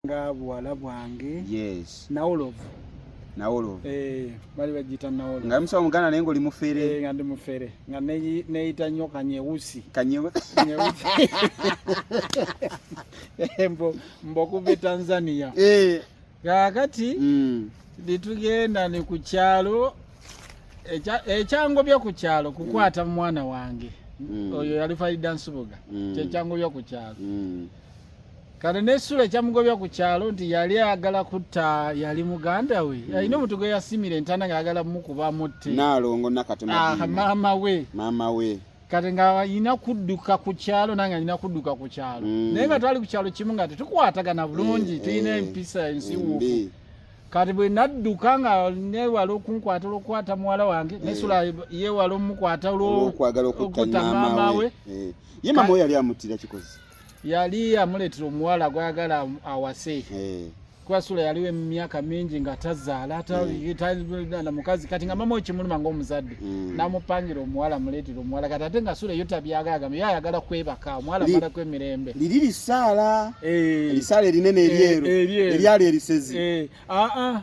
nga buwala bwange yes nawolovu nawolovu eh bali bajita nawolovu nga msa mugana naye ngoli mufere eh nga ndi mufere nga neyi neyita nyo kanyeusi kanyeusi kanyeusi eh, mbo mbo kuve tanzania eh kakati mm litugenda ni kuchalo echa echango bya kuchalo kukwata mm. mwana wange mm. oyo yali faida nsubuga mm. chechango bya kuchalo mm. kale nesula ekyamugobya ku kyalo nti yali ayagala kutta yali muganda we mm. alina omuntu gwe yasimira entana nga ayagala mukuba mutte nalongo nakatemaama ah, we maama we kati nga alina kudduka ku kyalo nange alina kudduka ku kyalo mm. naye nga twali ku kyalo kimu nga tetukwatagana bulungi eh, tulina eh, empisa ensiwuufu kati bwe nadduka nga newala okunkwata olwokukwata muwala wange eh. nesula yewala omukwata olwokwagala okutta maama we ye maama we yali amuttira kikozi yali amuleetera omuwala gwayagala awase eh. kubasula yaliwo emyaka mingi nga tazaala mm. na mukazi kati nga mama okimuluma ngaomuzadde mm. namupangira omuwala muleetera omuwala kati ate nga sula eyo tabyagagamba yo ayagala kwebaka omuwala amalaku emirembe liri lisaala eh. lisaala erinene eryeru eh, eryali erisezi aa ah, ah.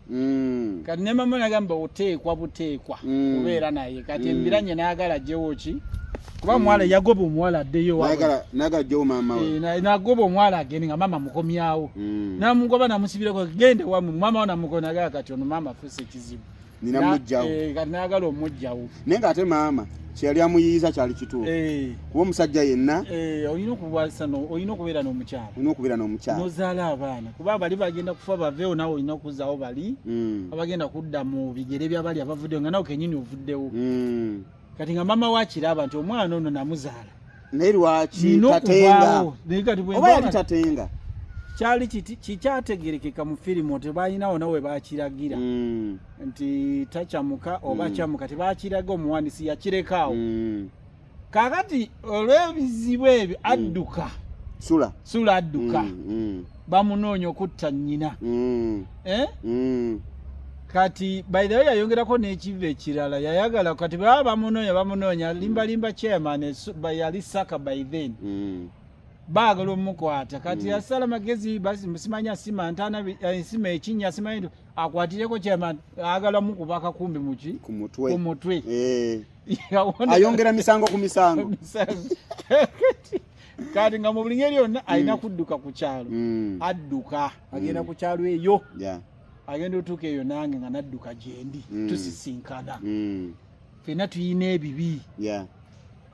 mm. kati ne mama nagamba oteekwa buteekwa mm. kubeera naye kati mm. embiranye nayagala jewo ki kuba mm. mwala yagoba omuwala addeyo eh, nagoba omwala agende nga mama mukomyawo mm. namugoba namusibirako gende wamu mama namukonagaa kati ono mama afuse ekizibu Eh, kati nayagala omujjawo naye ng'ate maama kyeyali amuyiyiza kyali kituufu eh. kuba omusajja yenna eh, olina okubeera n'omukyala olina okubeera n'omukyala nozaala abaana kuba bali bagenda kufa baveewo nawe olina okuzaawo bali hmm. abagenda kudda mu bigere byabali abavuddewo nga nawe kenyini ovuddewo hmm. kati nga maama wakiraba nti omwana ono namuzaala naye lwaki tatenga oba yali tatenga kyali kikyategerekeka mu firimu tebalinawo nawe bakiragira mm. nti takyamuka oba mm. kyamuka tebakiraga omuwandisi yakirekaawo mm. kakati olwebizibu ebyo adduka sula sula adduka bamunoonya okutta nnyina mm. eh? mm. kati by the way yayongerako n'ekiva ekirala yayagala kati baba bamunoonya bamunoonya mm. limbalimba chairman yali saka by then mm. baagala omukwata kati mm. yasala magezi simanya sima ntana eh, sima ekinya simanyi nti akwatireko chairman agala mukuba akakumbi muki ku mutwe eh. ayongera misango ku misango kati nga mu buli ngeri yonna mm. alina kudduka ku kyalo mm. adduka mm. agenda ku kyalo eyo agenda otuuka eyo nange nga nadduka gyendi tusisinkana fena tuyina ebibi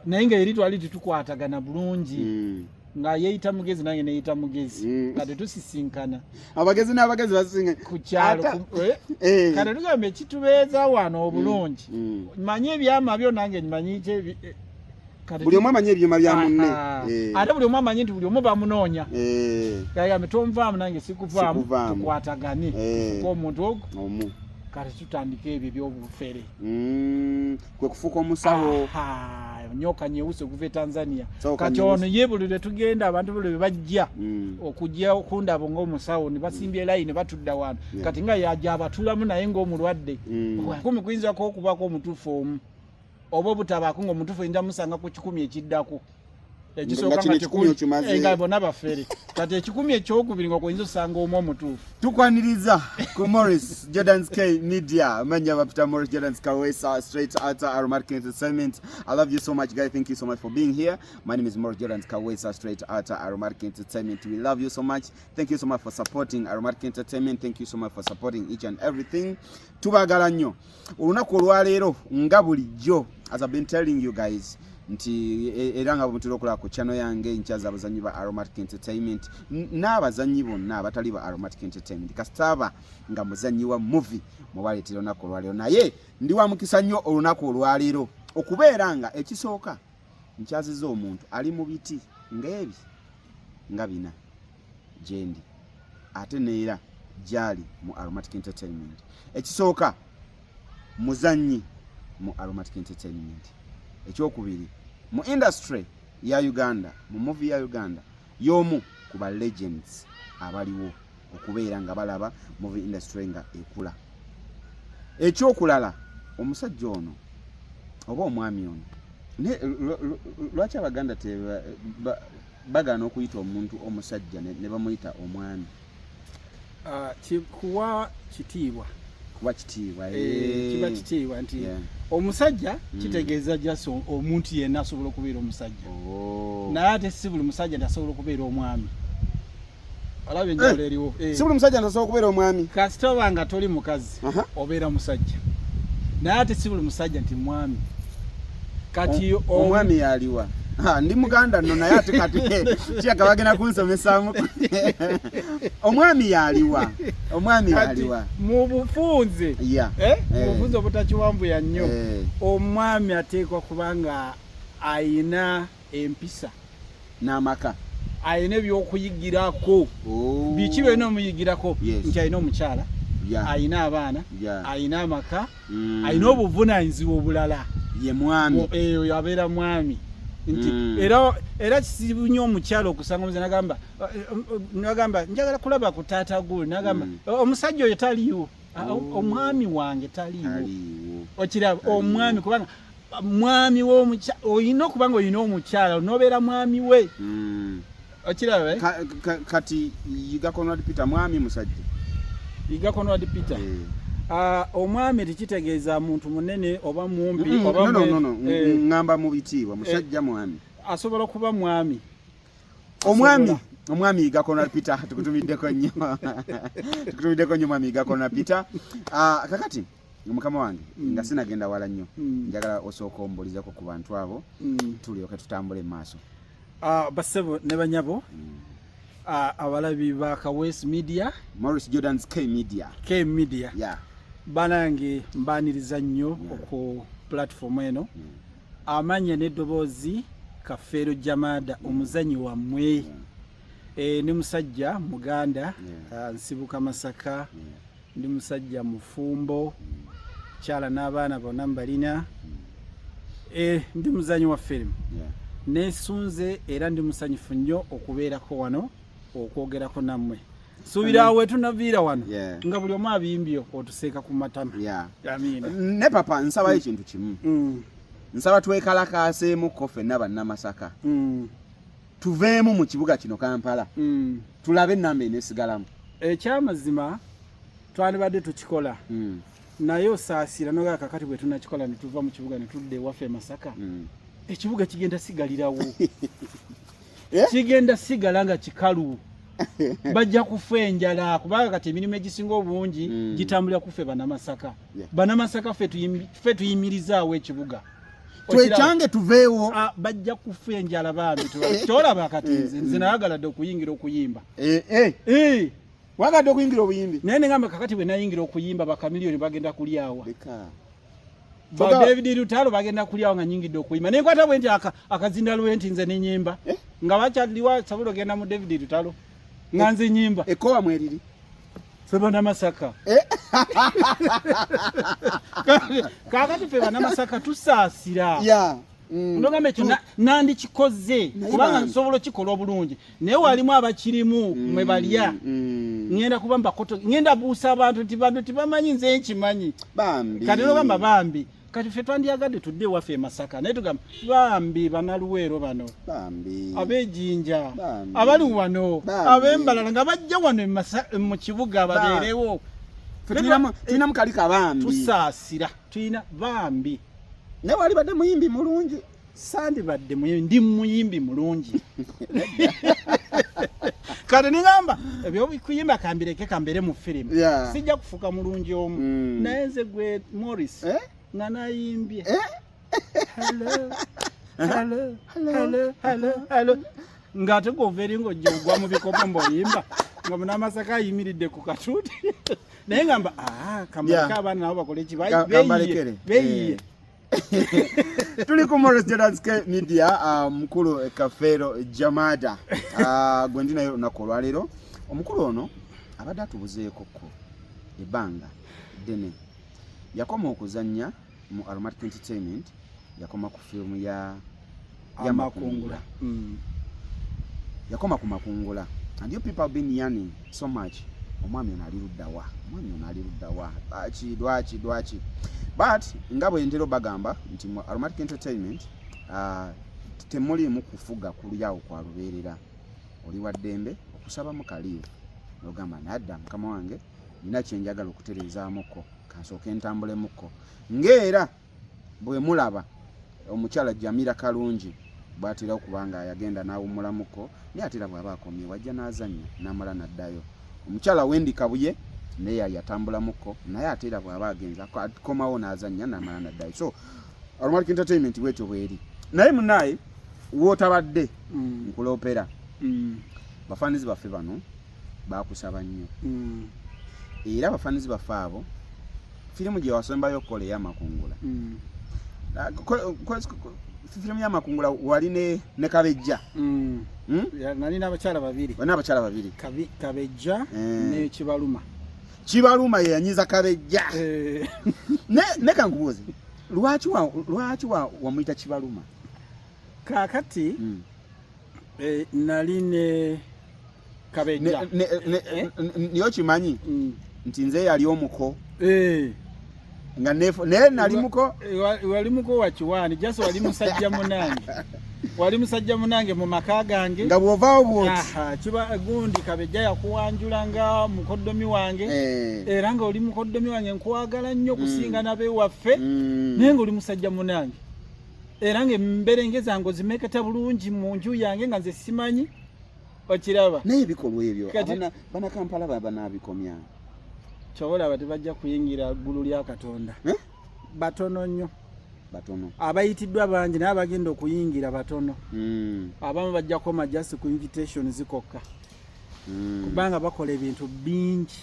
naye nga eri twali tetukwatagana bulungi nga yeyita mugezi nange neyita mugezi nga tetusisinkana abagezi n'abagezi basisinga ku kyalo eh? Eh. kati tugamba ekitubeeza wano obulungi manyi ebyama byo nange nyimanyi buli omu amanyi ebyuma bya munne eh. ate buli omu amanyi nti buli omu bamunoonya eh. gayambe tonvaamu nange sikuvaamu tukwatagane eh. fuka omuntu ogu omu kati tutandika ebyo ebyobufere mm, kwe kufuuka omusawo nyoka nyeusi okuva e tanzania kati ono ye buli lwetugenda abantu buli lwebajja mm. okujja okundabo ngaomusawo nebasimbye mm. layini batudda wano kati nga yaja abatulamu naye ngaomulwadde kumi kuyinzako okubako omutuufu omu oba obutabaako nga omutufu oyinza musanga ku kikumi ekiddako ekisookangakikumyenga eh, bona bafere kati ekikumi ekyokubiri nga kuyinza osanga omu omutuufu tukwaniriza ku morris jordans k media manya bapita morris jordans kawesa straight outer aromatic entertainment i love you so much guy thank you so much for being here my name is morris jordans kawesa straight outer aromatic entertainment we love you so much thank you so much for supporting aromatic entertainment thank you so much for supporting each and everything tubagala nnyo olunaku olwaleero nga bulijjo as I've been telling you guys nti e, era nga bwemutera okulaba ku channel yange nkyaza abazanyi ba aromatic entertainment n'abazanyi bonna abatali ba aromatic entertainment kasitaaba nga muzanyi wa movie mwebaleetera olunaku olwaleero naye ndi wa mukisa nnyo olunaku olwaleero okubeera nga ekisooka nkyaziza omuntu ali mu biti ng'ebi nga bina gyendi ate neera gyali mu aromatic entertainment ekisooka muzannyi mu aromatic entertainment ekyokubiri mu industry ya uganda mu muvi ya uganda Y'omu ku ba legends abaliwo okubeera nga balaba movie industry nga ekula. Ekyokulala omusajja ono oba omwami ono lwaki abaganda bagaana okuyita omuntu omusajja ne bamuyita omwami? Ah, kuwa kitiibwa kuba kitiibwa eh, eh. kiba kitiibwa nti omusajja mm. kitegeeza just omuntu yenna asobola okubeera omusajja oh. naye ate si buli musajja ntasobola okubeera omwami olaba enjawulo eh, eriwo si buli musajja ntasobola okubeera omwami kasita oba nga toli mukazi obeera musajja naye ate si buli musajja nti mwami kati omwami yaliwa ndi muganda no naye ate kati kiyaka bagenda kunsomesaamu omwami yaliwa omwami yaliwa mu bufunze eh? eh. obufunze obutakiwambuya nnyo eh. omwami ateekwa kubanga ayina ah, empisa n'amaka alina ebyokuyigirako oh. biki byolina omuyigirako nti alina omukyala alina abaana alina amaka mm. alina obuvunanyizibwa obulala ye mwami eyo eh, yabeera mwami nti mm. era era kizibu nnyo omukyala okusanga omuze nagamba eh, eh, nagamba njagala kulaba ku taata gwe nagamba mm. oh, omusajja oyo taliiwo ah, oh. omwami wange taliiwo okiraba omwami kubanga mwami wo omukyala oyina okuba nga oyina omukyala onobeera mwami we hmm. okiraba eh? kati yiga conrad peter mwami musajja yiga conrad peter hmm. ah, omwami tekitegeeza muntu munene oba mumpi hmm, eh. ngamba mu bitiibwa musajja eh. mwami asobola okuba mwami omwami omwami yiga conrad peter tukutumiddeko nnyo tukutumiddeko nnyo mwami yiga conrad peter ah, kakati mukama wange mm. nga sinagenda wala nnyo mm. njagala osooka ombulizako ku bantu abo mm. tulyoke tutambule mu maaso uh, basebo ne banyabo mm. uh, abalabi ba kawes media morris jordans k media k media yeah. banange mbaniriza nnyo yeah. oku platform eno mm. amanya n'eddoboozi kafeero jamada mm. omuzanyi wammwe yeah. e, ne musajja muganda yeah. uh, nsibuka masaka yeah. ndi musajja mufumbo kyala n'abaana bonna mbalina eh, ndi muzanyi wa firimu nesunze era ndi musanyufu nnyo okubeerako wano okwogerako nammwe subira awo etunaviira wano nga buli omu abimbye otuseeka ku matama ne papa nsabayo ekintu kimu mm. nsaba twekalakaaseemuko fenna bannamasaka mm. tuveemu mu kibuga kino kampala mm. tulabe enamba enesigalamu ekyamazima eh, twandibadde tukikola mm. naye osaasira noga kakati bwe tunakikola ne tuva mu kibuga ne tudda ewaffe emasaka mm. ekibuga kigenda sigalirawo eh? kigenda sigala nga kikalu bajja kufa enjala kubanga kati emirimu egisinga obungi mm. gitambulira kuffe banamasaka yeah. banamasaka ffe tuyimirizaawo ekibuga twekyange tuveewo ah, bajja kufa enjala bambi tolaba eh, eh. kati nze nze nayagala dde okuyingira okuyimba eh, wagadde okuyingira obuyimbi naye nengamba kakati bwe nayingira okuyimba bakamiliyoni bagenda kulyawa ba david lutalo bagenda kulyawo nga nyingidde okuyimba naye kwata bwe nti akazinda lwe nti nze nenyimba nga bakyaliwa sabulo genda mu david lutalo nga nze nyimba ekowa mweriri fe banamasaka eh? kakati fe banamasaka tusaasira mm. nogamba ekyo nandikikoze kubanga nsobola okikola obulungi naye walimu abakirimu mm. mwe balya mm. ŋenda kuba mbakoto ŋenda buusa abantu nti bantu tibamanyi nze nkimanyi kati nogamba bambi kati ffe twandyagadde tudde ewaffe emasaka naye tugamba bambi banaluweero bano abejinja abali wano abembalala nga bajja wano mu kibuga babeerewo tulinamu kali kabambi tusaasira tulina bambi naye wali badde muyimbi mulungi sandibadde ndi muyimbi mulungi kati nigamba ebyokuyimba kambireke kambere mu firimu sijja kufuka mulungi omu mm. naye nze gwe morris eh? nga nayimbye eh? ng'ate gwova eri ng'ojja ogwa mu bikopo mboyimba nga munamasaka ayimiridde ku katuuti naye ngamba ah, kamaleke abaana nabo bakole ki beyiye eh. tuli ku moresjadask media ah, mukulu eh, kafeero jamada ah, gwe ndi naye olunaku olwaleero omukulu ono abadde atubuzeekoko ebbanga ddene yakoma okuzannya mu aromatic entertainment yakoma ku firimu ya ya makungula mm. yakoma ku makungula and you people have been yearning so much omwami ono ali luddawa omwami ono ali luddawa lwaki lwaki lwaki but nga bwe ntera bagamba nti mu aromatic entertainment uh, temuliimu kufuga kulyawo kwa lubeerera oli wa ddembe okusaba mu kaliivu nogamba nadda mukama wange nina kyenjagala okutereezaamuko kansooke ntambulemu ko ngaera bwemulaba omukyala jamira kalungi bwatera okuba nga yagenda nawumulamuko naye ate era bwaba akomye wajja nazanya namala naddayo omukyala wendi kabuye naye yayatambulamuko naye ate era bwaba agenza akomawo nazanya namala naddayo so alumalik entertainment bwetyo bweri naye munaye wotabadde mm. nkulopera mm. bafanizi baffe bano bakusaba nnyo mm. era abafanizi baffe abo firimu gyewasembayo okukola eyamakungula mm. firimu yamakungula wali ne kabejja mm. hmm? nali nabakyala babiri nabakyala babiri kabejja eh. nekibaluma kibaluma yeyanyiza kabejja eh. nekankubuuzi lwaki wamuyita kibaluma kaakati mm. eh, nali ne kabeja eh? niyo kimanyi mm. nti nze yali omuko eh. nga nefo naye nali muko eh, wali muko wa kiwani just wali musajja munange wali musajja munange mu maka gange nga bwovaawo bwoti kiba gundi kabejja yakuwanjula nga mukoddomi wange eh. era nga oli mukoddomi wange nkwagala nnyo mm. kusinga nabewaffe mm. naye nga oli musajja munange era nga emberenge zange ozimeketa bulungi mu nju yange nga nze simanyi okiraba naye ebikolwa ebyo banakampala baba nabikomya kyobolaba tebajja kuyingira ggulu lya katonda eh? batono nnyo batono abayitiddwa bangi naye abagenda okuyingira batono hmm. abamu bajja koma just ku invitation zikokka hmm. kubanga bakola ebintu bingi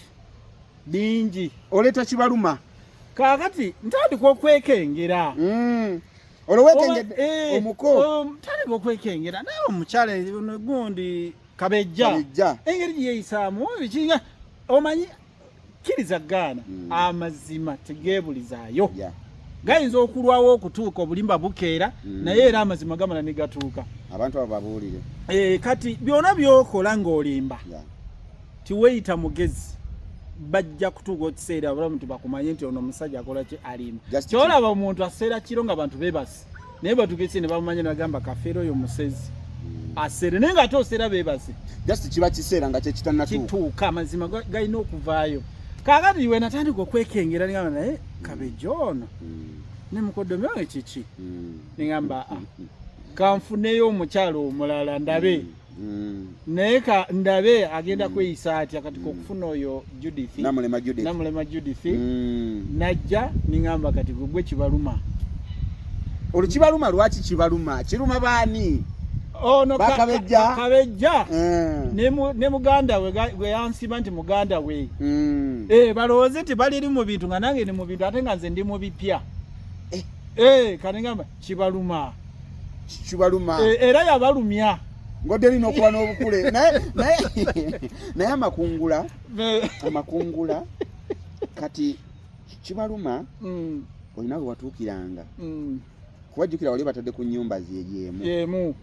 bingi oleeta kibaluma kaakati ntandika okwekengera mm. olowekengedde eh, omuko um, ntandika okwekengera naye omukyala gundi kabejja engeri gyeyisaamu bikinga omanyi kkiriza gaana mm. amazima tegeebulizaayo yeah. gayinza okulwawo okutuuka obulimba bukeera mm. naye era amazima gamala ne gatuuka abantu abo babuulire e, kati byona byokola ng'olimba yeah. tiweyita mugezi bajja kutuuka okiseera abalamu nti bakumanye nti ono omusajja akola ki alimu kyolaba omuntu aseera kiro nga bantu bebasi naye batukese ne bamumanya nagamba kafeero oyo musezi hmm. aseere naye nga ate oseera bebasi just kiba kiseera nga kyekitanakituuka amazima galina okuvaayo kakati we natandika okwekengera nigamba naye eh, kabejo ono hmm. ne mukodomi wange kiki hmm. nigamba ah, kanfuneyo omukyalo omulala ndabe Mm. naye ka ndabe agenda mm. kweyisa atya kati mm. kokufuna oyo Judith namulema Judith, namulema Judith. Mm. najja ningamba kati gwe kibaluma olukibaluma lwaki kibaluma kiruma baani ono oh, bakabejja kabejja mm. ne ne muganda we we yansiba nti muganda we mm. eh balowoze ti bali mu bintu nga nange ni mu bintu ate nga nze ndi mu bipya eh eh kanengamba kibaluma kibaluma e, era yabalumya ngodderi nokuba n'obukule naye amakungula amakungula kati kibaluma mm. olina wewatuukiranga mm. kuba jjukira wali batadde ku nyumba zeyemu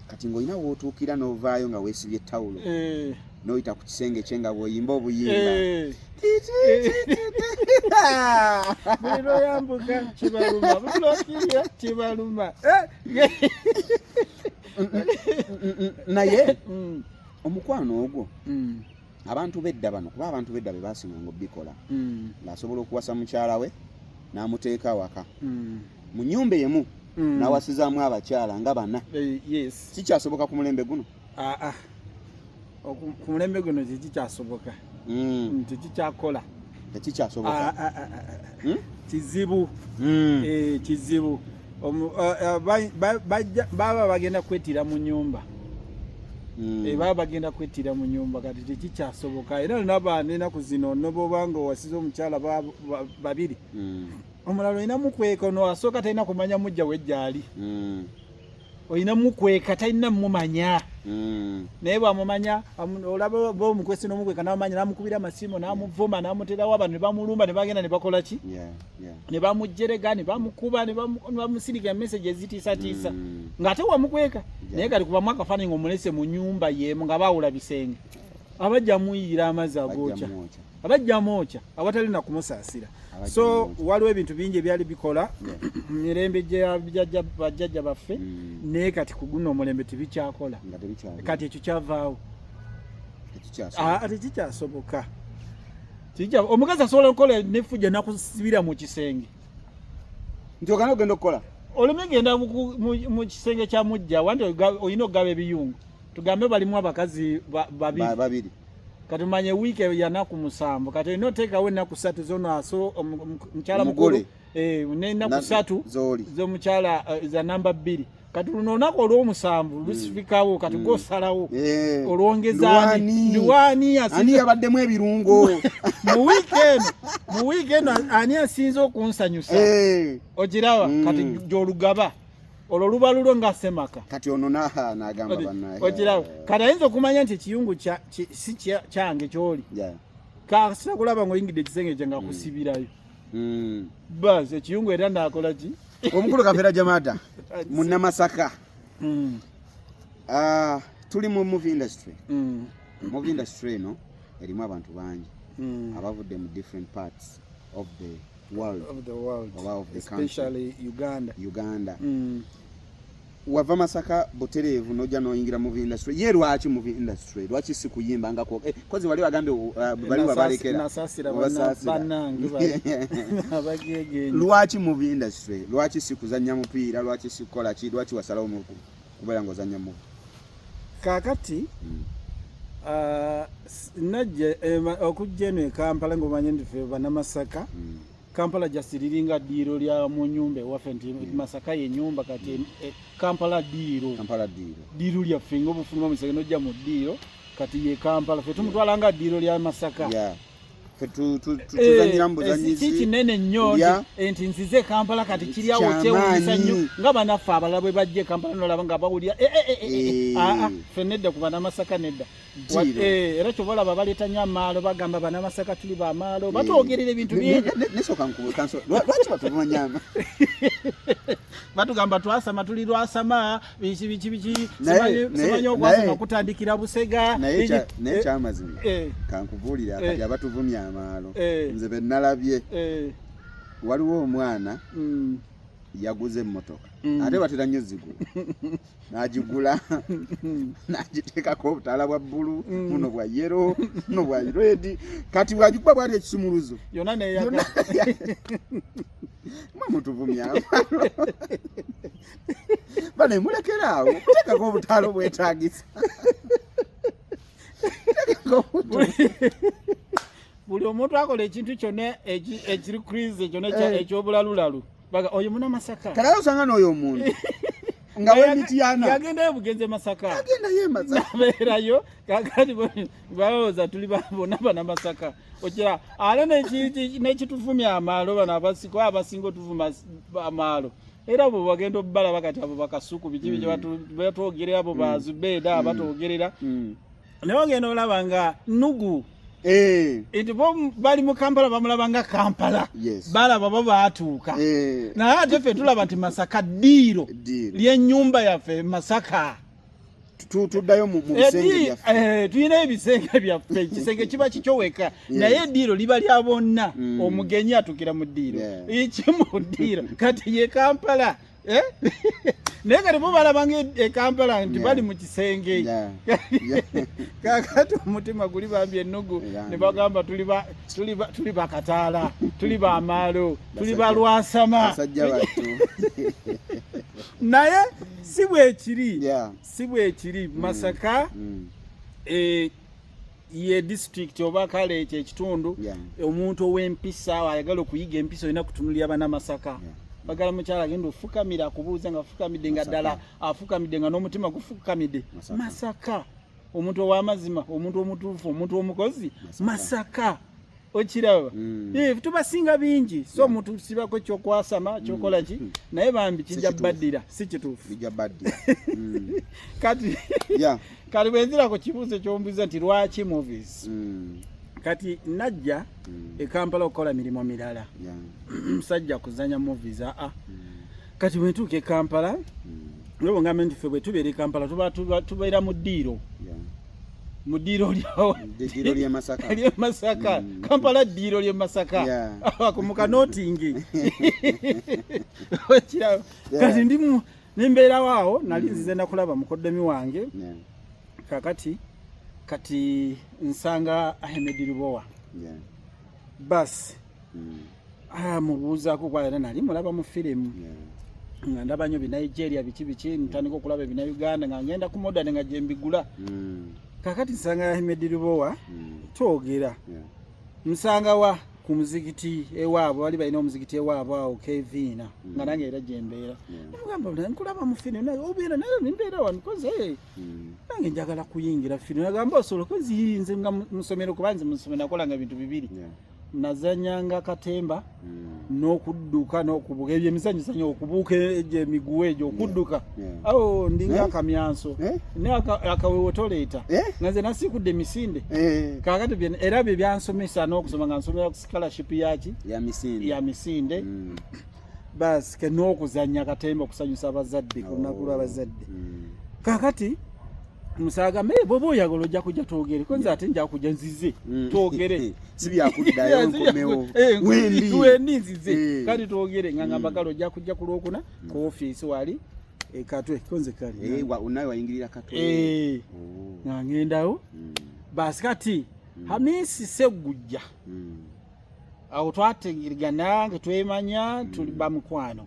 kati ng'olina wootuukira n'ovaayo nga weesibye tawulo eh. n'oyita ku kisenge kye nga bw'oyimba obuyimba eh. buli lwoyambuka kibaluma buli lwokirya kibaluma eh. naye mm. omukwano ogwo mm. abantu bedda bano kuba abantu bedda be baasimanga obikola mm. ng'asobola okuwasa mukyala we n'amuteeka awaka mm. mu nyumba emu mm. n'awasizaamu abakyala nga bana eh, kikyasoboka ku mulembe guno ah, ah. ku mulembe guno tekikyasoboka mm. tekikyakola tekikyasoboka ah, hmm? kizibu hmm. Eh, kizibu baba bagenda kwetira mu nyumba hmm. eh, baba bagenda kwetira mu nyumba kati tekikyasoboka era nabaana enaku zino noboba nga owasiza omukyala babiri hmm. omulala olina mukweka ono asooka talina kumanya mujja wejjaali hmm. olina mukweka talina mumanya Mm. naye bwamumanya olaba bomukwesi nomukweka namumanya namukubira amasimu namuvuma namuterawo abantu nebamulumba nebagenda nebakola ki ne bamujjerega ne bamukuba ne bamusirika emesegi ezitiisatiisa mm. ng'ate wamukweka naye kati kubamu akafaananyi nga omulese mu nyumba yeemu nga baawula bisenge abajja muyiira amazzi agookya abajja mwokya awatali na kumusaasira so waliwo ebintu bingi ebyali bikola mu mirembe gyabajjajja baffe mm. naye kati ku guno omulembe tebikyakola kati ekyo kyavaawo tekikyasoboka ah, kijja omukazi asobola okukola nefujja nakusibira mu kisenge nti ogana ogenda okukola oleme genda mu kisenge kya mujja wandi olina okugaba ebiyungu tugambe balimu abakazi babiri kati omanye wiiki yanaku musanvu kati olina oteekawo ennaku ssatu zona so omukyala mukulu eh, n'ennaku ssatu z'omukyala eh, za namba bbiri kati luno olunaku olwomusanvu hmm. lusifikawo kati hmm. gwosalawo eh. olwongezaaniwaaniyabaddemu ebirungo mu wiiki eno mu wiiki eno ani asinze okunsanyusa ogiraba hmm. kati gyolugaba olwo luba lulwo nga semaka kati ono nagamba banaye okiraba kati ayinza okumanya nti ekiyungu si kyange kyoli kasita kulaba ngaoyingidde ekisenge kye nga mm. kusibirayo mm. bas ekiyungu era nakola ki omukulu kafera jamada munamasaka mm. uh, tuli mu movie industry mm. movie industry eno erimu abantu bangi mm. abavudde mu different parts of the world of the world oba of the especially country. uganda uganda mm. wava masaka butereevu nojja noyingira mu industry ye lwaki mu industry lwaki si kuyimba nga ko eh, kozi wali wagambye uh, bali wabalekera lwaki mu industry lwaki si kuzannya mupiira lwaki si kukola ki lwaki wasalawo mu kubeera nga ozannya mu kakati hmm. uh, najja eh, okujja eno ekampala ngaomanye ndife banamasaka hmm. Kampala just liringa diiro lya mu nyumba ewaffe nti yeah. Masaka ye nyumba kati yeah. eh, Kampala diiro Kampala diiro diiro lya fingo bufuma musege no jamu diiro kati ye Kampala fe tumutwala yeah. nga diiro lya Masaka yeah. fe tu tu tu eh, tuzanyira mbuzanyizi eh, chichi nene nyo yeah. enti nzize Kampala kati kiri awo che wisa nyo nga bana fa balabwe bajje Kampala no labanga bawulia eh eh eh, eh, eh. eh. ah ah fe nedda kubana Masaka nedda era kyoba olaba baleeta nyo amaalo bagamba banamasaka tuli bamaalo batwogerera ebintu bingibatugamba batugamba twasama tuli lwasama biki biki biki simanyi okwasama kutandikira busega naye kyamazima eh, eh. kankubuulira kati eh. abatuvumya amaalo nze benalabye waliwo omwana mm. yaguze emmotoka mm. ate batera nnyo zigula nagigula nagiteekako obutaala bwa bbulu mm. buno bwa yero buno bwa redi kati bwagikuba bwali ekisumuluzo yona neyaga mamutuvumya bane mulekera awo kuteekako obutaala obwetagisa buli omuntu akola ekintu kyona ekiri krize kyona ekyobulalulalu baga oyo muna masaka kala usanga no oyo muntu nga we mitiyana yagenda yebugenze masaka yagenda ye masaka nabera yo kakati bo bawoza tuli babo naba na masaka ojira ala ne chiti ne chitufumi amalo bana basiko abasingo tufuma amalo era bo bagenda obala bakati abo bakasuku bijibi mm. batu batu ogere abo mm. bazubeda mm. batu ogerera mm. naye ogenda olaba nga nugu Eh. nti bo bali mu kampala bamulaba nga kampala balaba bo baatuuka eh. naye ate ffe tulaba nti masaka ddiiro lyenyumba yaffe masaka tuddayo mu bisenge eh, byaffe eh, tulina ebisenge byaffe ekisenge kiba kikyo weka naye eddiiro liba lya bonna mm. omugenyi atukira mu ddiiro ekimu ddiiro kati ye kampala Eh? naye kati bo balabanga ekampala e nti bali mu kisenge kakati omutima guli bambi ennugu ne bagamba tuli bakataala tuli bamaalo tuli balwasama naye si bwekiri si bwekiri mm. masaka mm. Eh, ye district oba kale ekyo ekitundu yeah. omuntu ow'empisa ayagala okuyiga empisa olina kutunulira bana masaka yeah. bagala mukyala agenda ofukamira akubuuza nga afukamidde nga ddala afukamidde nga n'omutima gufukamidde masaka, masaka. omuntu owamazima omuntu omutuufu omuntu omukozi masaka, masaka. okiraba mm. eh, tubasinga bingi so mutusibako kyokwasama mm. kyokola ki mm. naye bambi kijja baddira si kituufu kati kati bwenzira ku kibuuzo kyombuza nti lwaki movies kati najja ekampala okukola mirimu mirala musajja kuzanya movies aa ah, ah. kati bwetuuka e kampala hmm. olwo ngambe nti ffe bwe tubeera e kampala tubeera mu ddiiro mu ddiiro lyawoly'emasaka hmm. kampala ddiiro ly'e masaka akumuka notingi okiraba kati ndi nembeerawo awo nali hmm. nzize nakulaba mukoddomi wange kakati kati nsanga ahemedi lubowa basi Ah, mubuuzaako kuba era nali mulaba mu firimu nga ndaba nyo binigeria biki biki ntandika okulaba ebina uganda nga ngenda ku modern nga gyembigula hmm. kakati nsanga ahmed lubowa hmm. twogera nsanga wa ku muzikiti ewaabwe bali balina omuzikiti ewaabwe awo keviina hmm. nga nange era gyembeera namugamba bula nkulaba mu firimu naye obeera naye nimbeera wanikoze nange njagala kuyingira firimu nagamba osoloka ziyinze nga musomero kuba nze musomero nakolanga bintu bibiri nazanyanga katemba hmm. n'okudduka n'okubuuka ebyo emizanyizanyo okubuuka egyo emiguwa egyo okudduka awo ndinga eh? akamyanso eh? naye akawewo toleeta eh? nga nze nasiikudde emisinde kakati era bye byansomesa n'okusoma nga nsomera ku scholarship yaki ya misinde hmm. basi ke n'okuzanya katemba okusanyusa abazadde ku lunaku lw'abazadde hmm. kakati musaaga me bwoba oyagala ojja kujja twogere kwenze ate nja kujja nzize mm. twogere si byakuddayo nkomewo eh, wendi wendi nzize eh. kati twogere nga ngamba mm. kale ojja kujja ku lwokuna mm. ku ofiisi wali ekatwe eh, konze kali naye wayingirira katwe oh. nga ngendawo basi kati hamisi segujja awo twategergana nga twemanya tuli mm. bamukwano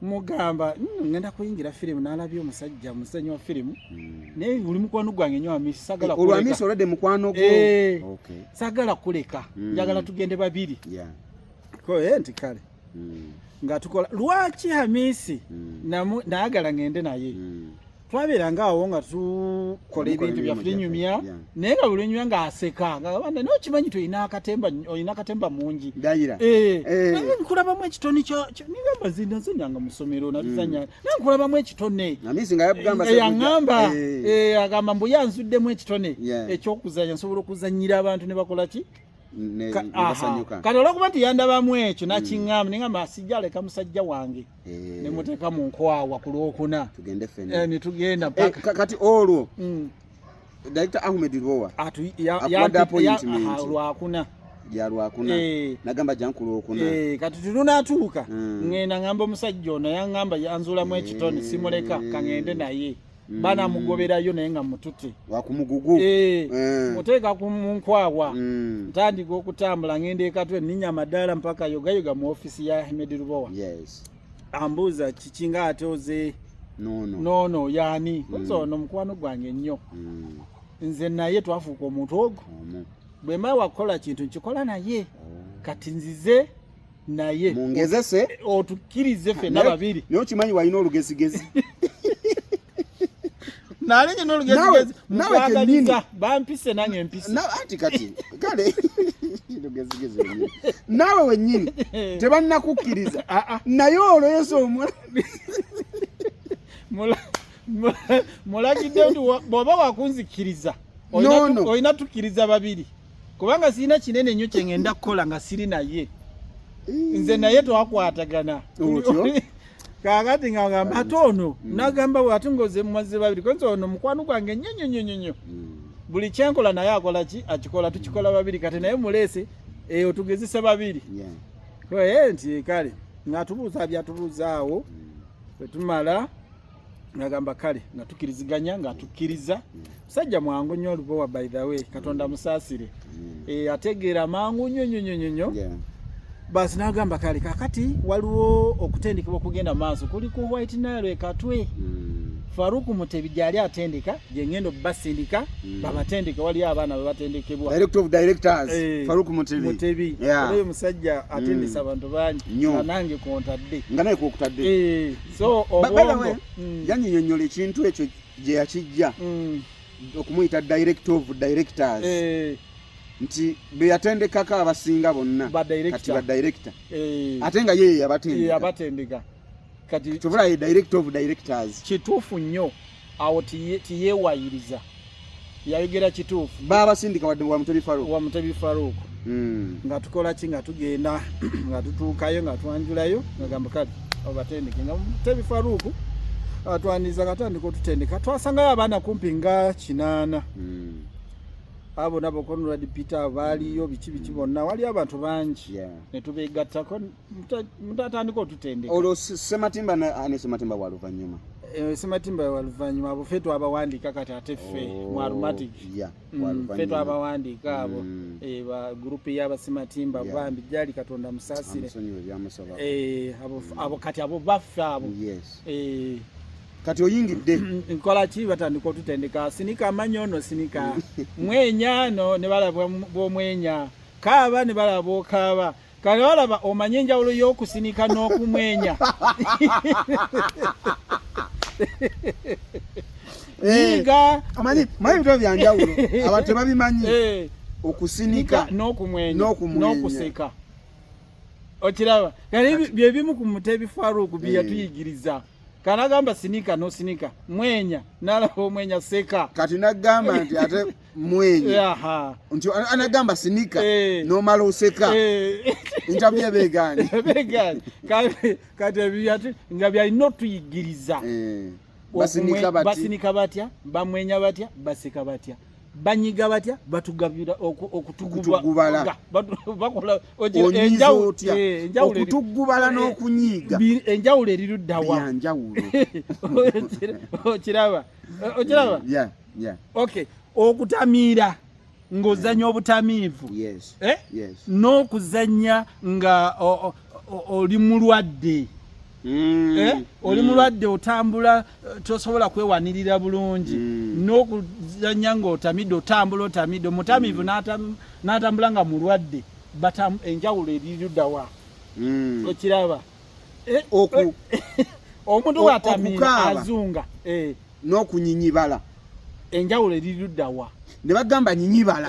mugamba mm, ngenda kuyingira firimu nalabye omusajja musenyi wa firimu mm. naye oli mukwano gwange nyo amisi sagala eh, olwamisi olwadde mukwano gwo eh, sagala kuleka njagala tugende babiri koye eh, nti kale nga tukola lwaki hamisi nayagala ngende naye twabeeranga awo nga tukola ebintu byaffe tunyumya naye nga bulunyumya nga aseka ngaabanda naye okimanyi ti olina akatemba olina akatemba mungi dayira eh. eh. naye nkulabamu ekitone nigamba zinazanyanga musomero natuzanya hmm. naye nkulabamu ekitone yangamba eh, agamba mbu yanzuddemu ekitone ekyokuzanya nsobola okuzanyira abantu ne bakola ki kati olwokuba nti yandabamu ekyo hmm. nakiŋamba nengamba sijja aleka musajja wange eh. ne muteeka mu nkwawa ku lwokuna tugende fena eh, ne tugenda eh, paka kati olwo mm. Director Ahmed Ruwa atu ya ya lwakuna ya lwakuna eh. nagamba jankulu okuna eh kati tunatuuka mm. ngenda ngamba omusajja ono yangamba yanzula mu ekitone eh. simuleka kangende naye mm. banamugoberayo naye nga mutute wakumugugu eh, eh. muteeka ku munkwawa mm. ntandika okutambula ngenda ekatwe ninya amadaala mpaka yogayoga mu ofisi ya ahmed lubowa yes. ambuuza kikinga ate oze nono no, no, yani mm. nze ono mukwano gwange nnyo mm. nze naye twafuuka omuntu ogwo mm. bwemba wakukola kintu nkikola naye oh. kati nzize naye mungezese eh, otukirize fe na babiri nyo kimanyi wali no lugezi gezi nale nyo no lugezi gezi nawe kenini bampise nange mpise na ati kati kale lugezi gezi nawe wenyini tebanna kukiriza a ah, a ah. naye olo yeso omwa mula mulagidde nti bw'oba wakunzikiriza olina tukiriza babiri kubanga sirina kinene nnyo kye ngenda kukola nga siri naye nze naye twakwatagana kakati nga ngamba ate ono mm. nagamba ate ngoze mumaze babiri konze ono mukwano gwange nnyo nnyo nnyo nnyo mm. buli kyenkola naye akola ki akikola tukikola babiri kati naye muleese eyo tugezesa babiri nti kale ngatubuuza byatubuuzaawo mm. wetumala nagamba kale nga tukiriziganya nga tukiriza musajja mwangu nnyo olubowa by the way katonda mm. musaasire mm. e, ategeera mangu nnyo nnyo nnyo nnyo nnyo basi nagamba kale kakati waliwo okutendekebwa okugenda maaso kuli ku white nile ekatwe mm. faruku mutebi gyali atendeka gyengendo basindika babatendeke waliyo abaana bebatendekebwa mutebi oyo musajja atendesa abantu bangi nange kontadde nga naye kokutadde e. so obwongo mm. yanyinyonyola ekintu ekyo gye yakijja mm. okumuyita director of directors eh. nti beyatendekako abasinga bonna kati badirector eh. ate nga yeye yabatendeka kyobulaye director of directors kituufu nnyo awo tiyewayiriza yayogera kituufu baabasindika wadde wa mutebi faruuku wa mutebi faruuku hmm. nga tukola ki nga tugenda nga tutuukayo nga twanjulayo ngagamba kati obatendeke nga mutebi faruuku atwaniriza nga tandika otutendeka twasangayo abaana kumpi nga kinaana hmm. abo nabo konrad peter baaliyo biki biki bonna waliyo abantu bangi netubegattako mutatandika otutendeka olwo sematimba ne sematimba wa luvannyuma eh, sematimba wa luvannyuma abo fe twabawandiika kati ate ffe oh, mu aromatic mm, fe twabawandiika abo mm. eh, ba gurupu y'abasematimba bambi gyali katonda musaasire eh, mm. abo kati abo baffe abo kati oyingidde nkola ki batandika otutendeka sinika amanyi ono sinika mwenya no ne balaba bwomwenya kaaba ne balaba okaaba Kale olaba omanye enjawulo y'okusinika n'okumwenya. Eh, Yiga amanyi manyi bitwa bya njawulo abantu tebabimanyi eh. okusinika n'okumwenya n'okuseka okiraba kale bye bimu ku mutebi Farouk bye eh. yatuyigiriza kana gamba sinika n'osinika mwenya n'alaba omwenya seka kati nagamba nti ate mwenye yeah. nti anagamba sinika hey. Eh. nomala oseka hey. Eh. interview ebegaani ebegaani kati ebyati nga byalina otuyigiriza hey. Eh. basinika batya bamwenya batya baseka batya banyiga batya batugabira okutugubala bakola okutugubala n'okunyiiga enjawulo eriruddawa okiraba okiraba yeah. okay okutamiira ng'ozanya yeah. obutamiivu yes. eh? yes. n'okuzanya nga oli mulwadde mm. eh? oli mm. mulwadde otambula eh, tosobola kwewanirira bulungi mm. n'okuzanya ng'otamidde otambula otamidde omutamiivu mm. n'atambula nga mulwadde enjawulo eriruddawa mm. okiraba mm. eh, oku eh, omuntu bw'atamiira azunga eh. n'okunyinyibala enjawulo eri ludda wa ne bagamba nyinyibala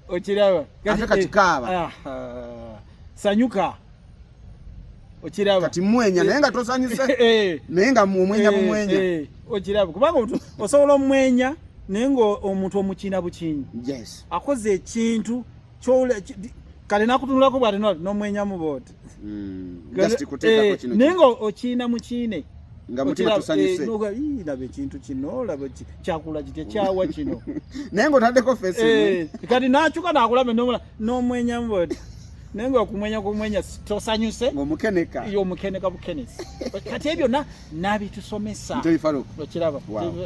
okiraba ate kati kaaba ah, ah. sanyuka okiraba kati mwenya naye nga tosanyuse naye nga omwenya bumwenya okiraba kubanga osobola omwenya naye nga omuntu omukina bukinyi akoze ekintu kale nakutunulako bwati nomwenyamu boti hmm, eh, naye nga okiina mukiine nga mutima eh, tusanyuse laba ekintu kino laba kyakula kitya kyawa kino naye nga otaddeko fesi eh, kati nakyuka nakulaba nomwenyamu boti naye nga okumwenya kumwenya tosanyuse omukeneka yo omukeneka bukenesi kati ebyo na nabitusomesa okiraba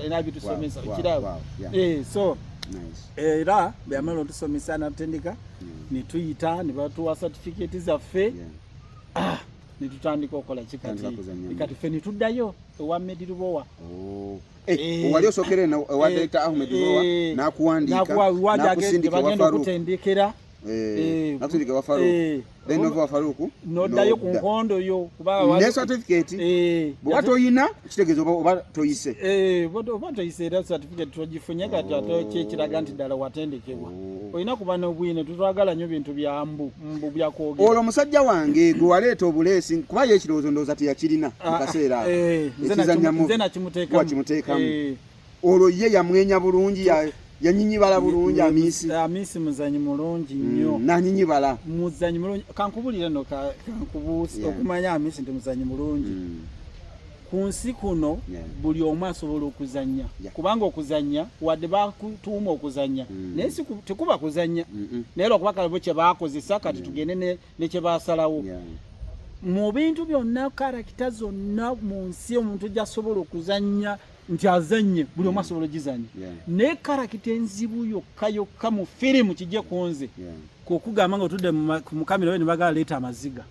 nabitusomesa okiraba eh, so nice. era bwe yamala otusomesa natutendeka ne tuyita ne batuwa satifikeeti zaffe ah, ne tutandika okola kikati kati ffe ne tuddayo ewa medi lubowa oh. Eh, eh, wali osokere na eh, wa director Ahmed Rowa na kuandika na kuandika na kusindika wa Farouk eh na kusindika wa Farouk then nova wafaluku nodayo ku nkondo yo kuba ne certificate eh bwa toyina kitegezo oba toyise eh bwa oba toyise era certificate tojifunye kati oh. ato kye kiraga nti dala watendekebwa oh. oyina kuba no bwino tutwagala nyo bintu bya mbu mbu bya kwoge olo musajja wange gwe waleeta obulesi kuba ye kirozo ndoza tiyakirina ah, kaseera eh nze na kimuteka kwa kimuteka eh. olwo ye yamwenya bulungi yanyinyibala bulungi amisi amisi muzanyi mulungi mm, nnyo nanyinyibala muzanyi mulungi kankubulire no kankubuusi okumanya amisi nti muzanyi mulungi mm. ku nsi kuno buli omu asobola okuzanya kubanga okuzanya wadde bakutuuma okuzanya mm. naye tekuba kuzanya naye lwakuba kalabo kyebakozesa kati tugende nekyebasalawo mu bintu byonna karakita zonna mu nsi omuntu gyasobola okuzanya nti azanye buli omu asobola ogizanya naye karakita enzibu yokka yokka mu firimu kijje ku nze kwokugamba nga otudde ku mukamera we nebagala leeta amaziga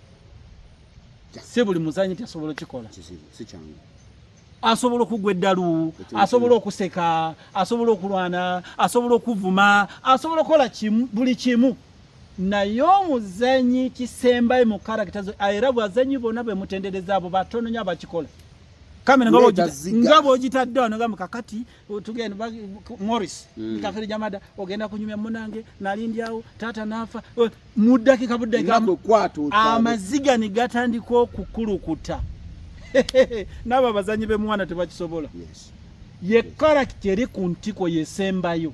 si buli muzanyi nti asobola okikola asobola okugwa eddalu asobola okuseka asobola okulwana asobola okuvuma asobola okukola buli kimu naye omuzanyi kisembayo mu karakita zo era bwazanyi bona bwemutendereza abo batononya abakikola kamera nga bojita nga bojita ddo nga mukakati tugenda ba Morris mm. kafiri jamada ogenda kunyumya munange nalindi awo tata nafa mudaki kabudde kambo kwatu amaziga ni gatandi ko kukulukuta naba bazanyi be mwana tebakisobola yes ye character eri ku ntiko yesembayo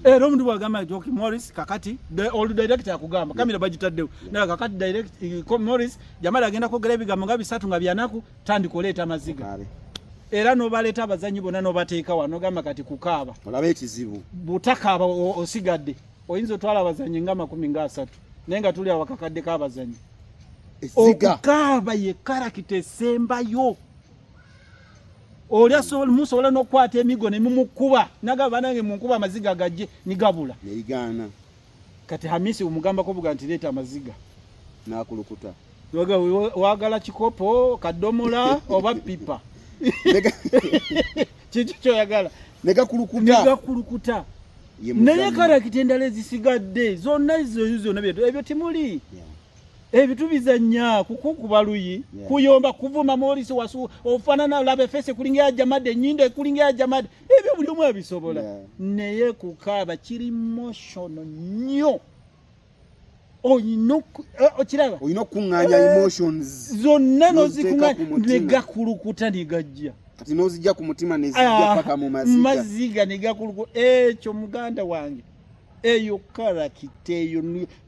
era eh, omuntu bwagamba nti ok morris kakati olu director akugamba kamera bagitaddewo naye kakati direct eh, morris jamala agenda kwogera ebigambo nga bisatu nga byanaku tandika oleeta amaziga era nobaleeta abazanyi bonna nobateeka wa nogamba kati kukaaba olaba ekizibu butakaaba osigadde oyinza otwala abazanyi nga amakumi nga asatu naye nga tuli awakakadde kabazanyi okukaaba ye karakita esembayo oli asobola musobola n'okukwata emigo ne mumukuba nagamba banange munkuba amaziga gajje nigabula neigaana kati hamisi omugambako buga nti leeta amaziga nakulukuta wagala kikopo kadomola oba pipa kiki kyoyagala negakulukuta naye karakita endala ezisigadde zonna ezo zonna ebyo temuli ebitu bizanya kukukuba luyi yeah. kuyomba kuvuma morisi wasu ofanana labe fese kulinga ya jamade nyinde kulinga ya jamade ebyo buli omu abisobola yeah. naye kukaba kiri emotional nyo oyina eh, okiraba oyina okunganya eh, emotions zonna nozikunganya negakulukuta negajja kati nozijja ku mutima nezijja ah, paka mu maziga maziga negakulukuta ekyo muganda wange eyo karakita eyo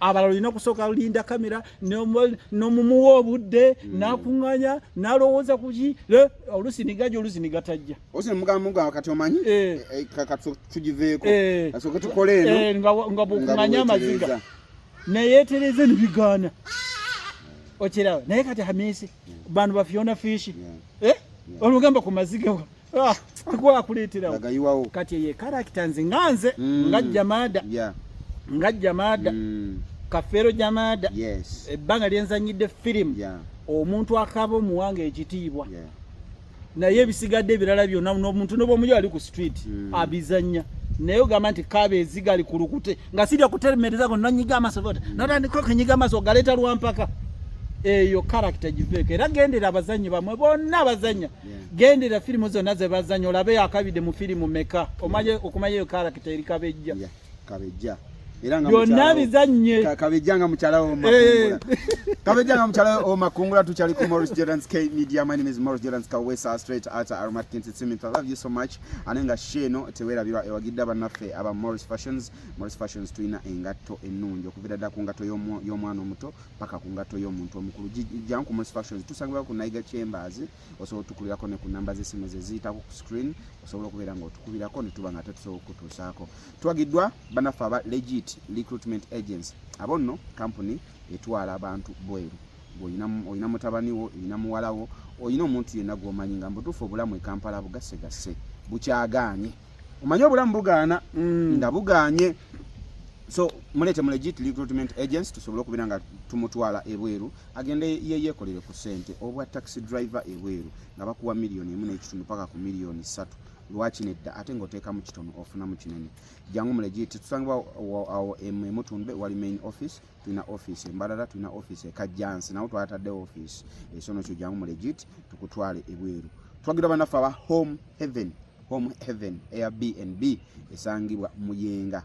abalala olina okusooka linda kamera nomumuwa obudde hmm. nakuŋŋanya nalowooza kuki olusi nigaja olusi nigatajja osimugambga kati omanyi eh. eh, eh, tugiveeko asooke tukole eno nga bwokuŋŋanya amaziga neyetereze nibigaana okiraba naye kati hamisi hmm. bantu bafiona fishi olugamba ku maziga ah, akuwa akuleeterawo kati eyo ekarakita nze nga nze mm. nga jamaada nga jamaada mm. kafeero jamaada ebbanga lyenzanyidde firimu omuntu akaba omuwanga ekitiibwa naye ebisigadde ebirala byonna nomuntu nobomuyo ali ku street mm. abizanya naye ogamba nti kaba eziga ali ku lukute nga sirya kuteremereza go nanyiga amaso vota mm. notandika okenyiga amaso ogaleeta lwampaka eyo karakita giveeko era gendera abazannyi bamwe bonna abazannya gendera firimu zonna ze bazannya olabe yakabidde mu firimu meka omaye okumanya eyo karakita eri kabejja kabejja byonna bizannye kabejja nga mukyala womakungula eh. kabejja nga mukyala womakungula tukyali ku morris jordan k media my name is morris jordan kawesa straight out aromat kinti simith i love you so much ane nga she eno tewerabirwa ewagidde abannaffe aba morris fashions morris fashions tulina engatto ennungi okuviira ddala ku ngatto y'omwana omuto paka ku ngatto y'omuntu omukulu janku mos fashions tusangibwa ku naiga chambers osobola otukulirako ne ku namba z'essimu ze ziyitako ku screen osobola okubeera nga otukubirako ne tuba nga tetusobola okukutuusaako twagiddwa banaffe aba legit recruitment agency abo nno kampuni etwala abantu bweru olina mutabani wo olina muwala wo olina omuntu yenna gwomanyi nga mubutuufu obulamu ekampala bugasegasse bukyagaanye omanyi obulamu bugaana mm. nga bugaanye so mulete mu legit recruitment agents tusobole okubeera nga tumutwala ebweru agende yeyekolere ku sente obwa taxi driver ebweru nga bakuwa miliyoni emu n'ekitundu paka ku miliyoni ssatu lwaki nedda ate ng'oteekamu kitono ofunamu kinene jangu mu legit tusangibwa awo emutundwe wali main office tulina office embalala tulina office ekajjansi nawo twatadde office esono kyo jangu mu legit tukutwale ebweru twagira banaffe aba home heaven Home Heaven Airbnb esangibwa Muyenga.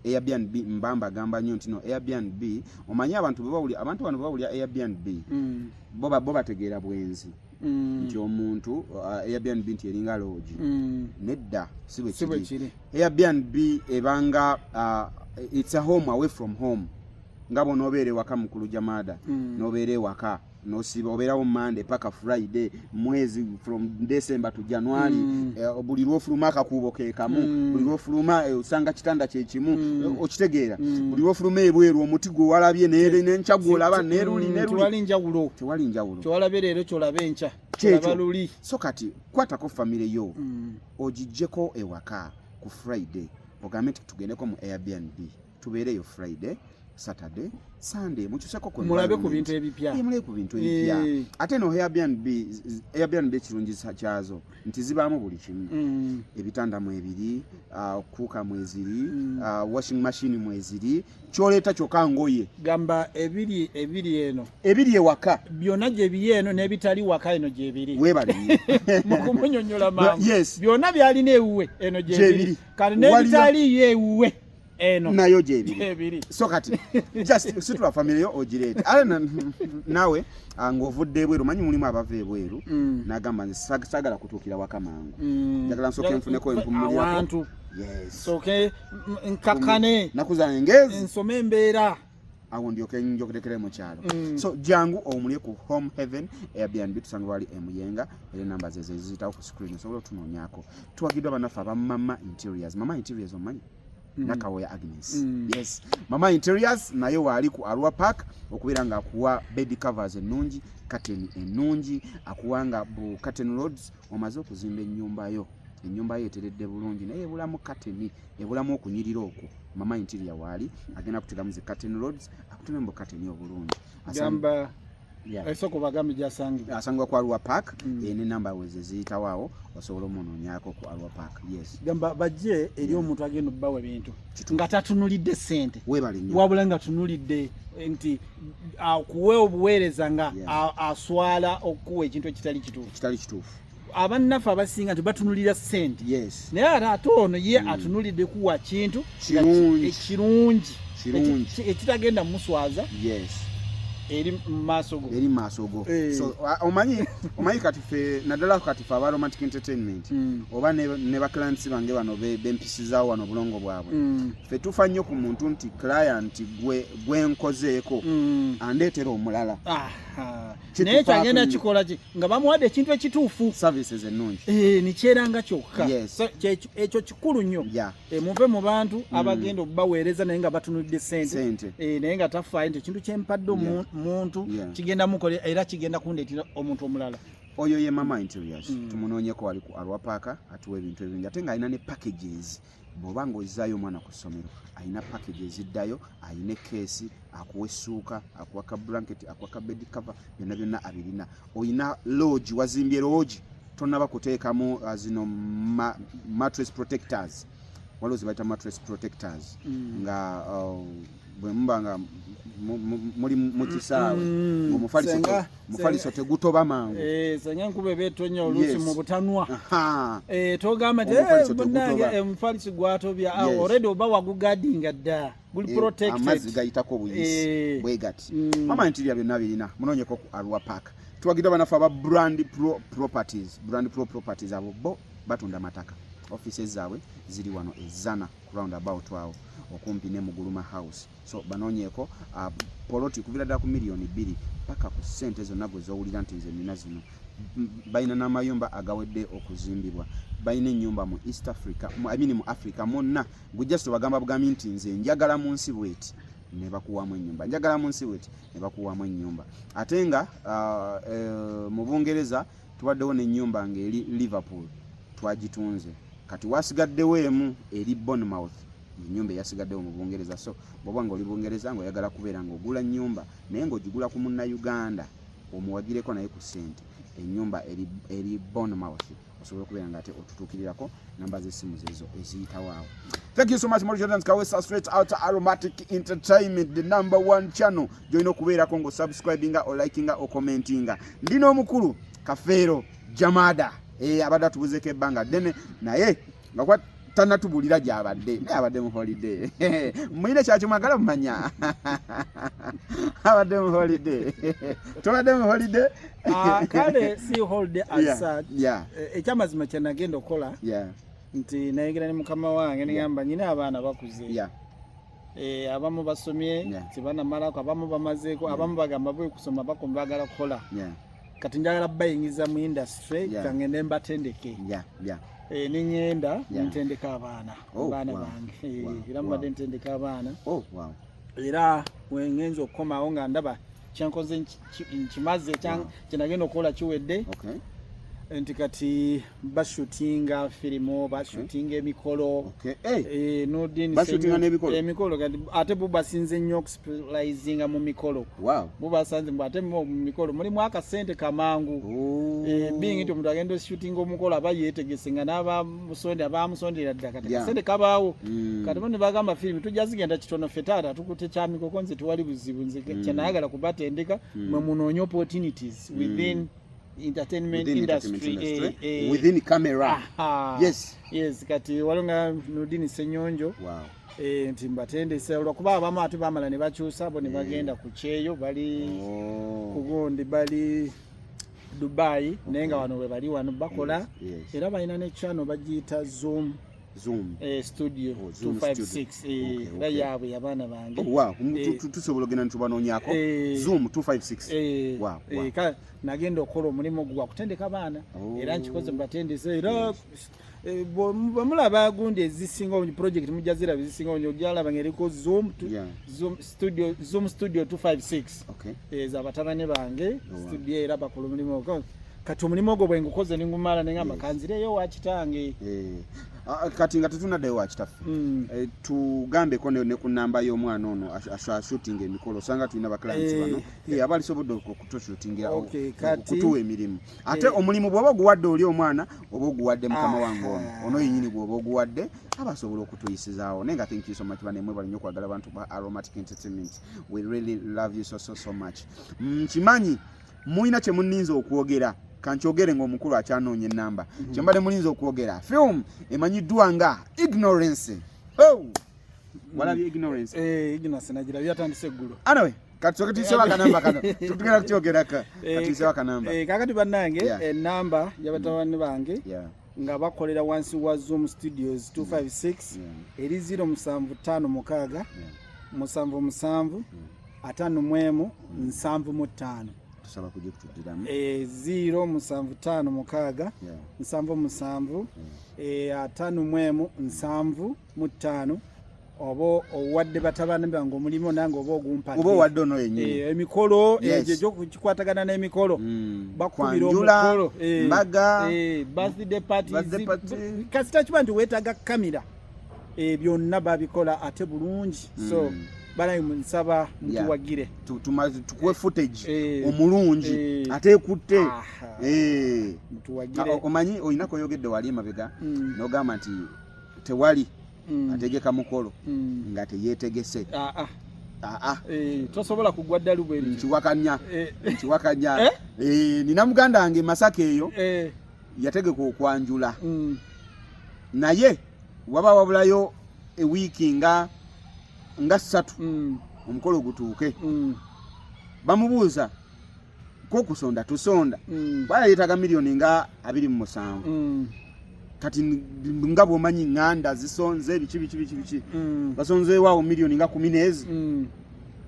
Airbnb mbamba agamba nnyo ntino Airbnb omanyi abantu bebawuli abantu bano bebawulira Airbnb mm. bo bo bategeera bwenzi mm. nti omuntu uh, Airbnb nti eringa loogi mm. nedda si bwe kiri Airbnb ebanga uh, it's a home away from home nga bw'onoobeera ewaka mukulu jamaada mm. n'obeera ewaka nosiba obeerawo monday paka friday mwezi from december to january mm. eh, buli lwofuluma akakuubo kekamu mm. buli lwofuluma eh, osanga kitanda kyekimu mm. Eh, okitegeera mm. buli lwofuluma ebweru omuti gwe walabye nenkya gwolaba neruli mm, tewali njawulo tewali njawulo kyowalabye leero kyolaba enkya kyolaba luli so kati kwatako famire yo mm. ogijjeko ewaka ku friday ogambe nti tugendeko mu airbnb tubeereyo friday saturday sunday mukyuseko mulabe ku bintu ebipya eh, mulabe ku bintu ebipya eh. ate no airbnb airbnb ekirungi kyazo nti zibaamu buli kimu mm. ebitanda mwebiri ah, kuuka mweziri mm. ah, washing machine mweziri kyoleeta kyokka ngoye gamba ebiri ebiri eno ebiri ewaka byonna gyebiri eno n'ebitali waka eno gyebiri webali mukumunyonyola maamu byonna byalina ewuwe eno gyebiri kati n'ebitaliyo ewuwe eno nayo gyebiri so kati just situla family yo ogireete ale nawe ah, ng'ovudde ebweru manyi mulimu abava ebweru mm. nagamba nze sagala kutuukira waka mangu mm. njagala nsooke nfuneko empumulirakosoke nkakane nakuzana engezi nsome embeera awo ndyoke njogerekere mu kyalo mm. so jangu omulye ku home heaven airbnb tusanga wali emuyenga era enamba ze zeziyitawo ku screen osobola otunoonyako tuwagiddwa banaffe aba mama interiors mama interiors omanyi mm. nakawoya agnes mm. yes mama interiors naye waali ku arwa park okubeera nga akuwa bed covers ennungi kateni ennungi akuwa nga bu katen roads omaze okuzimba ennyumba yo enyumba ye eteredde bulungi naye ebulamu kateni ebulamu okunyirira okwo mama interior waali agenda kuteramu zi curtain roads akuteme mbu kateni obulungi gamba esoko bagambi gyasangibwa asangibwa ku arua park mm. ene namba weze ziyitawo awo osobola omunonyako ku arua park yes gamba bajje eri mm. omuntu agenda obbawa ebintu nga tatunulidde sente wabula nga tunulidde nti akuwe obuweereza nga aswala okukuwa ekintu ekitali kituufu abannaffe abasinga nti batunulira sente yes. naye ate ate ono ye mm. atunulidde kuwa kintu ekirungi ekitagenda muswaza yes. eri mumaaso go eri mumaaso go hey. Eh. so, omanyi omanyi kati fe naddala kati fe aba romantic entertainment mm. oba ne, ne baclients bange bano bempisizawo be wano obulongo bwabwe mm. fe tufa nnyo ku muntu nti client gwe gwenkozeeko mm. andeetera omulala ah, ah. naye kyagenda kikola ki nga bamuwadde ekintu ekituufu services ennungi eh, nikyeranga kyokka ekyo kikulu nnyo eh, muve mu bantu mm. abagenda okubaweereza naye nga batunulidde sente eh, naye nga tafaayo nti ekintu kyempadde omuntu kigenda mukolera era kigenda kundeetera omuntu omulala oyo ye mama interiors mm. tumunoonyeko wali ku alwapaaka atuwa ebintu ebingi ate nga alina ne packages bw'oba ng'ozzaayo omwana ku ssomero alina package eziddayo alina ekeesi akuwa essuuka akuwa ka blanket akuwa ka bed cover byonna byonna abirina olina loogi wazimbye loogi tonaba kuteekamu uh, zino matres protectors waliwo zibayita matres protectors mm. nga uh, bwe muba nga muli mu kisaawe mm. omufaliso tegutoba mangu eh, senga enkuba eba etonya oluusi mu butanwa eh, togamba nti eh, munange omufaliso gwatobya awo ah, olredi oba wagugadinga dda guli protectedamazzi gayitako obuyisi bwegati mm. mama ntirya byonna birina munonyeko ku arua park tuwagidwa banafe aba brand pro properties brand pro properties abo bo batunda mataka offices zaabwe ziri wano ezana round about awo okumpi ne muguluma house so banonyeko uh, poloti kuvira da ku milioni bili paka ku sente zona gwe zowulira nti nze nina zino balina n'amayumba agawedde okuzimbibwa balina ennyumba mu east africa I mean mu africa monna gwe just obagamba bugambi nti nze njagala mu nsi bweti ne bakuwamu ennyumba njagala mu nsi bweti ne bakuwamu ennyumba ate nga uh, uh, mu bungereza tubaddewo n'ennyumba ng'eri Liverpool twagitunze kati wasigaddewo emu eri Bournemouth enyumba eyasigaddewo mu Bungereza so bwoba nga oli Bungereza nga oyagala kubeera nga ogula nyumba naye nga ogigula ku munna Uganda omuwagireko naye ku sente enyumba eri Bournemouth osobola okubeera nga ate otutuukirirako namba z'essimu zezo eziyitawo awo thank you so much mori jordan kawesa straight out aromatic entertainment the number one channel gyolina okubeerako nga osubscribinga olikinga okomentinga ndi n'omukulu kafeero jamada e, eh, abadde atubuzeko ebbanga ddene naye nga tanatubulira gyabadde naye abadde mu holiday muyina kyaki mwagala mumanya abadde mu holiday tobadde mu holiday Ah, kale si holiday as such eh, ekyamazima kyenagenda okukola nti nayegera ne mukama wange nigamba nyina abaana bakuze eh, abamu basomye tebanamalako abamu bamazeeko abamu bagamba bwe kusoma bakoma bagala kukola kati njagala bayingiza mu industry kangende mbatendeke eh, niŋenda ntendeka abaana abaana bange era mubadde ntendeka abaana oh, era wengenza okukomawo nga ndaba kyenkoze nkimaze kyenagenda okukola kiwedde nti kati bashutinga firimu bashutinga emikolo emikolo ate bubasinze nnyo okusplaisinga mu mikolo bubasanze mbu ate mu mikolo mulimu akasente kamangu oh. eh, bingi nti omuntu agenda oshutinga omukolo aba yetegese nga naba musonda bamusondera dda kati kasente kabaawo mm. kati bano bagamba firimu tujja zigenda kitono ffe taata tukute kyamikoko nze tewali buzibu nze mm. kyenayagala kubatendeka mm. mwe munoonye opportunities within entertainment industry eh, eh. within camera yes yes kati waliwo nga nudini senyonjo eh, nti mbatendese olwokuba abamu ate bamala ne bakyusa bo ne bagenda ku kyeyo bali oh. kugundi bali dubai naye nga wano webali wano bakola era balina ne channel bagiyita zoom Zoom. Eh, studio oh, Zoom 256 eh, okay, yaabwe yabaana bange oh, wow. eh, tusobola ogenda nitubanonyako eh, Zoom 256 eh, wow, wow. Eh, nagenda okukola omulimu gwa kutendeka baana oh. era nkikoze mubatendese era oh. Eh, bwemulaba gundi ezisinga obungi project mujja ziraba ezisinga obungi ojalaba nga eriko zoom studio 256 ezo eh, abatabane bange oh, studio era bakulu mulimu kati omulimu ogwo bwengukoze ningumala naye nga makanzireyo wakitange eh. Ah, ah, kati nga tetunaddayo wakitaffe hmm. eh, tugambeko ne ku namba y'omwana ono ashutinga emikolo osanga tulina baclients eh. bano eh, aba alisobodde okutushutingira okutuwa emirimu ate eh. omulimu bwoba oguwadde oli omwana oba oguwadde mukama ah, wange ono ah. ono yenyini gwoba oguwadde aba asobola okutuyisizaawo naye nga thank you so much banemwe balinyo okwagala abantu ba aromatic entertainment we really love you so so so much mm, nkimanyi mm, mulina kyemuninza okwogera kankyogere ngaomukulu akyanoonya enamba mm. kyembadde mulinza okwogera film emanyiddwa nga ignorance oh! walabye ignorance eh, ignorance nagirabye atandise eggulu anyway katusoke tuyisewo akanamba kano tugenda kukyogeraka eh, katuyisewo akanamba eh, kakati bannange enamba eh, mm. yabatabani bange nga bakolera wansi wa zoom studios 256 eri 0 musanvu ttaano mukaaga musanvu musanvu ataano mu emu mm. nsanvu mu ttaano tusaba kujja kutudiramu e, ziro musanvu tano mukaga yeah. nsanvu musanvu yeah. e, atano mwemu nsanvu mu ttaano oba owadde batabani bange omulimu nange oba ogumpaoba owadde ono yenyini eh, emikolo eh, egyo gyokukikwatagana n'emikolo mm. bakubira omukolo eh, mbaga birthday partiskasita kiba nti weetaga kamera byonna babikola ate bulungi so mm. banaye nsaba mutuwagire tukuwe footage omulungi ate ekutte omanyi olina koyogedde wali emabega mm. nogamba nti tewali mm. ategeka mukolo mm. nga teyetegese ah, ah. Ah, ah. Eh, tosobola kugwa ddalu bwe nkiwakanya eh. nkiwakanya eh? eh, nina muganda wange masaka eyo eh. yategeka okwanjula mm. naye waba wabulayo ewiiki nga nga ssatu mm. omukolo gutuuke mm. bamubuuza kokusonda tusonda mm. bwala yetaga milioni nga abiri mu musanvu mm. kati nga bwomanyi nganda zisonze biki biki biki biki mm. basonze wawo milioni nga kumi nezi mm.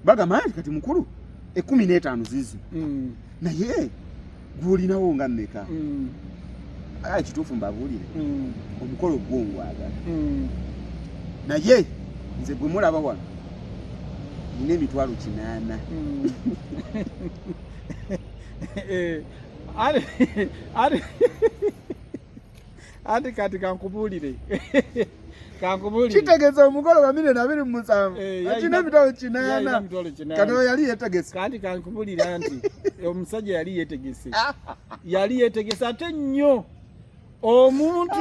bagamba nti kati mukulu ekumi n'etaano zizi mm. naye gwolinawo nga mmeka mm. agala kituufu mbabuulire hmm. omukolo gwo ngwagala hmm. naye nze gwe mulaba wano nina emitwalo kinaana hmm. eh, ati kati kankubuulire kitegeza omugole wa milioni abiri mu musanvu eh, akina emitwalo kinaana kati oyo yali yetegese kandi kankubulira nti omusajja yali yetegese yali yetegese ate nnyo omuntu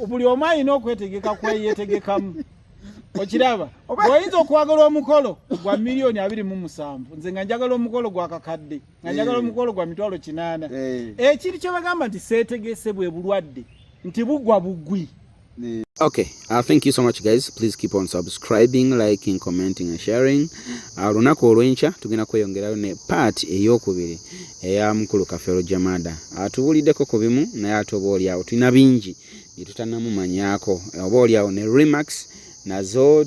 buli omu alina okwetegeka kweyetegekamu okiraba oyinza okwagala omukolo gwa miliyoni abiri mu musanvu nze nga njagala omukolo gwa kakadde nga eh. njagala omukolo gwa mitwalo kinaana eh. ekiri kyebagamba nti seetegese bwe bulwadde nti bugwa bugwi okay uh, thank you so much guys please keep on subscribing liking commenting and sharing uh, lunaku olwenkya tugenda kweyongerayo ne part eyokubiri eya mukulu kafero jamada atubuliddeko uh, ku bimu naye ate oba olyawo tulina bingi byetutanamumanyako oba olyawo ne remax nazo